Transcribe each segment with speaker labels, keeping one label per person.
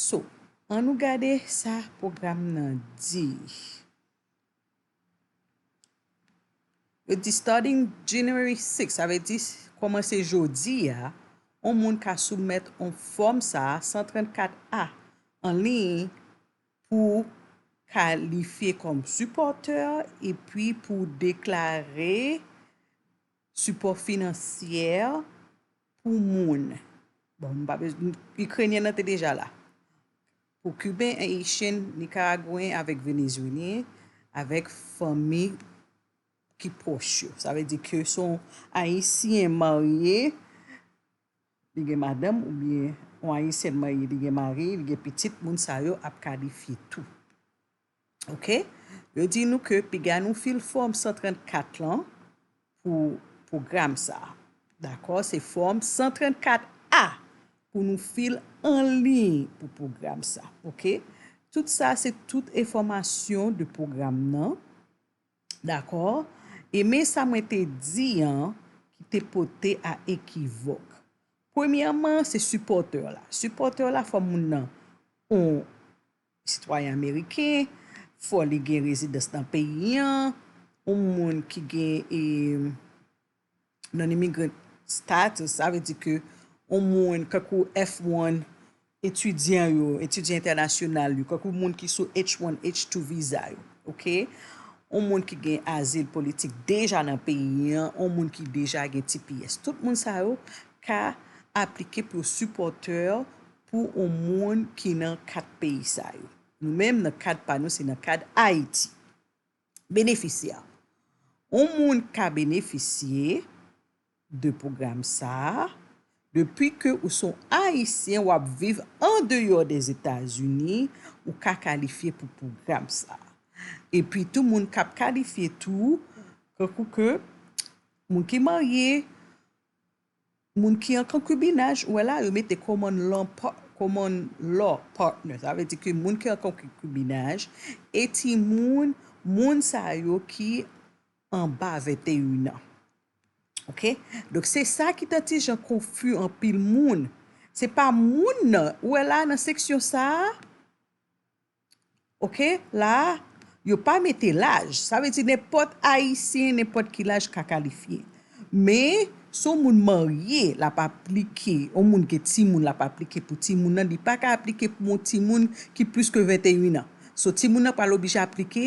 Speaker 1: So, an nou gade sa pwogram nan di. Yo di starting January 6, sa vle di kòmanse jodi a, on moun ka soumèt on fòm sa a, 134 A, an liy pou w kalifye kòm sipòtè epi pou w deklare. Sipò finansyè pou moun. Bon, nou pa bezwen, Ikrenyen nan te deja la. Pou Kiben, Ayisyen, Nikaragwen avèk Venezyelyen, avèk fanmi ki pwòch yo. Sa vle di ke son Ayisyen marye, li gen madanm oubyen yon Ayisyèn marye li gen mari, li gen pitit, moun sa yo ap kalifye tou. Ok yo di nou ke piga nou fil fòm 134 lan pou pwogram sa a dakò se fòm 134 A pou nou fil anliy pou pwogram sa ok tout sa se tout enfòmasyon de pwogram nan dakò e men sa mwen te di an ki te pote a ekivòk premyèman se sipòtè la sipòtè la fò moun nan on. sitwayen ameriken, fò li gen rezidans nan peyi an, yon moun ki gen e non-immigrant status, sa vle di ke yon moun kankou F-1 etidyan yo, etidyan entènasyonal yo, kankou moun ki sou H-1, H-2 viza yo, ok, yon moun ki gen azil politik deja nan peyi an, yon moun ki deja gen tps. Tout moun sa yo ka aplike pou sipòtè pou yon moun ki nan kat peyi sa yo. Nou menm nan kad pa nou se nan kad Ayiti. Benefisye a. Yon moun ka benefisye de pwogram sa a depi ke ou se yon Ayisyen w ap viv andeyò Dèzetazini, ou ka kalifye pou pwogram sa a. Epi tou moun k ap kalifye tou, tankou ke moun ki marye, Moun ki an konkibinaj, ou wè la yo mete common law common law partner sa vle di ke moun ki an konkibinaj e timoun moun sa yo ki anba 21 an ok donk se sa ki ta ti jan konfi anpil moun se pa moun nan ou wè la nan seksyon sa a Ok la a yo pa mete laj sa vle di nenpòt ayisyen nenpòt ki laj ka kalifye men si yon moun marye l ap aplike yon moun gen timoun l ap aplike pou timoun nan li pa ka aplike pou yon timoun ki plis ke 21 an so timoun nan pral oblije aplike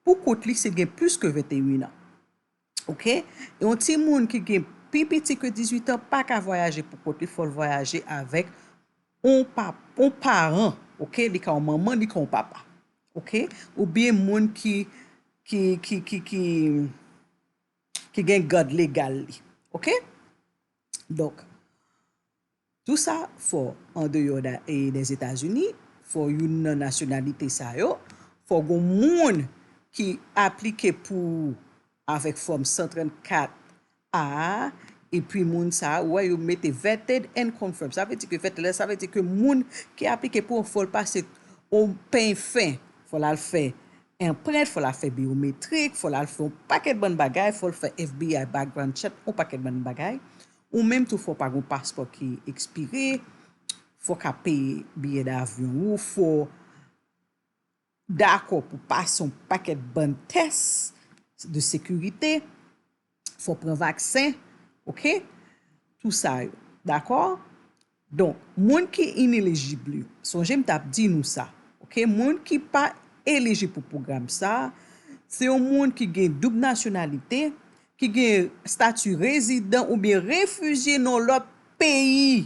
Speaker 1: pou kont li si l gen plis ke 21 an. Ok yon timoun ki gen pi piti ke 18 an pa ka vwayaje pou kont li fòl vwayaje avèk yon pap yon paran ok li ka yon manman li ka yon papa ok ou byen moun ki ki ki ki ki ki gen gad legal li ok donk. Tou sa fò andeyò dè Zetazini, fò youn nan nasyonalite sa yo, fò gon moun ki aplike pou ou avèk fòm 134 A a, epi moun sa ou wè yo mete vetted and confirmed, sa vle di ke vetted la sa vle di ke moun ki aplike pou ou fò l pase yon peny fen, fò l al fè anprent, fò l al fè byometrik, fò l al fè yon pakèt bann bagay, fò l fè FBI background check, yon pakèt bann bagay, Ou menm tou fò pa gon paspò ki ekspire, fò ka peye biyè davyon ou, fò dakò pou pase yon pakèt bann tès de sekirite, fò pran vaksen, ok, tou sa yo, dakò? Donk moun ki inelijib yo, sonje m t ap di nou sa, ok, moun ki pa elijib pou pwogram sa, se yon moun ki gen doub nasyonalite, ki gen stati rezidan oubyen refijye nan lòt peyi.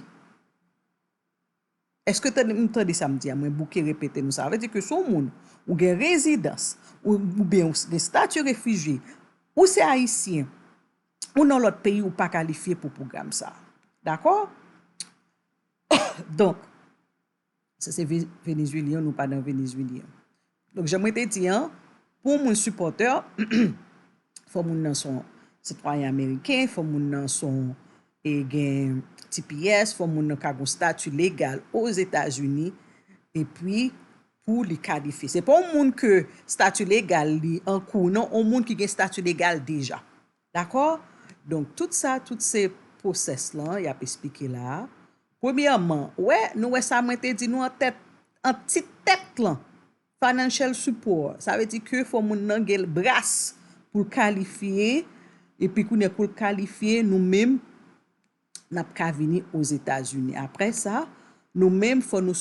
Speaker 1: Eske tande, nou tande sa m di a, mwen bouke repete nou sa. Sa vle di ke si w moun, ou gen rezidans, oubyen ou gen stati refijye, ou se ayisyen, ou nan lòt peyi ou pa kalifye pou pwogram sa a. Dakò? Donk, sa se Venezuelyen nou pa nan Venezuelyen. Donk jan mwen te di an, pou moun sipòtè, fò moun nan son sitwayen ameriken, fò moun nan son e gen tps, fò moun nan ka gon stati legal Ozetazini, epi pou li kalifye. Se pa yon moun ke stati legal li an kou non, yon moun ki gen stati legal deja. Dakò? Donk tout sa, tout se pwosès lan y ap esplike la a. Premyèman, ou wè, nou wè sa mwen te di nou an tèt, an ti tèt lan, financial support, sa vle di ke fò moun nan gen bras pou l kalifye, epi kounye a pou l kalifye, nou menm n ap ka vini Ozetazini. Apre sa, nou menm fò nou.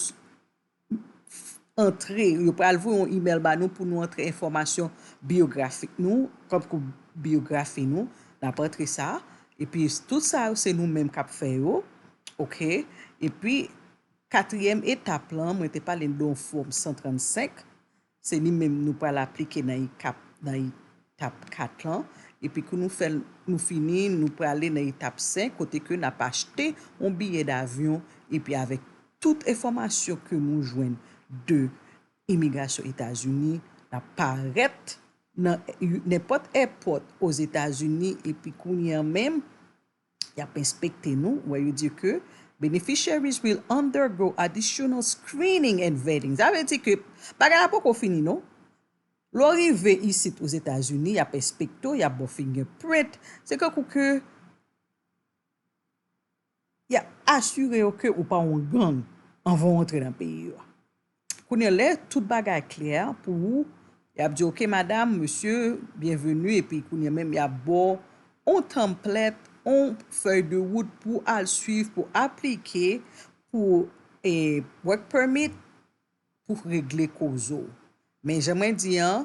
Speaker 1: antre, yo pral voye yon imèl ba nou pou nou antre enfòmasyon biyografik nou, tankou biyografi nou, n ap antre sa, epi tout sa yo se nou menm k ap fè yo, ok, epi katriyèm etap lan, mwen te pale de yon fòm 135, Se li menm nou pral aplike nan ekap nan etap 4 lan epi kou nou fèl nou fini nou prale nan etap 5 kote ke nap achte yon biyè davyon epi avèk tout enfòmasyon ke nou jwenn de imigrasyon etazini nap parèt nan nenpòt èpòt ozetazini epi kounye an menm Yap enspekte nou where you di ke beneficiaries will undergo additional screening and vetting. Sa vle di ke bagay la poko fini non. Lè w rive isit Ozetazini, yap enspekte w, yap ba w fingerprint. Se tankou ke yap asire yo ke ou pa yon gang anvan w antre nan peyi yo. Kounye lè tout bagay klè pou ou yap diw ok madam, mesye, byenveni epi kounye menm yap baw on tanmplèt, on fèy de wout pou al swiv pou aplike pou work permit pou regle koz ou. Men jan mwen di an,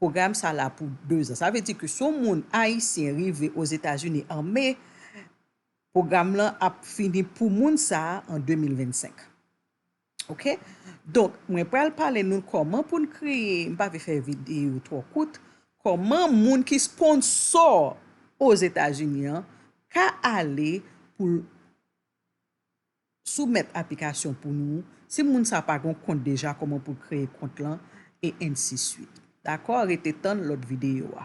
Speaker 1: pwogram sa la pou 2 zan. Sa vle di ke si yon moun ayisyen rive Ozetazini an me, pwogram lan ap fini pou moun sa an 2025. Ok donk mwen pral pale nou kòman pou n kreye m pa vle fè videyo twò kout kòman moun ki sponsò ozetazini an ka ale pou l soumèt aplikasyon pou nou si moun sa pa gon kont deja kòman pou l kreye kont lan e ensiswit dakò rete tann lòt videyo a.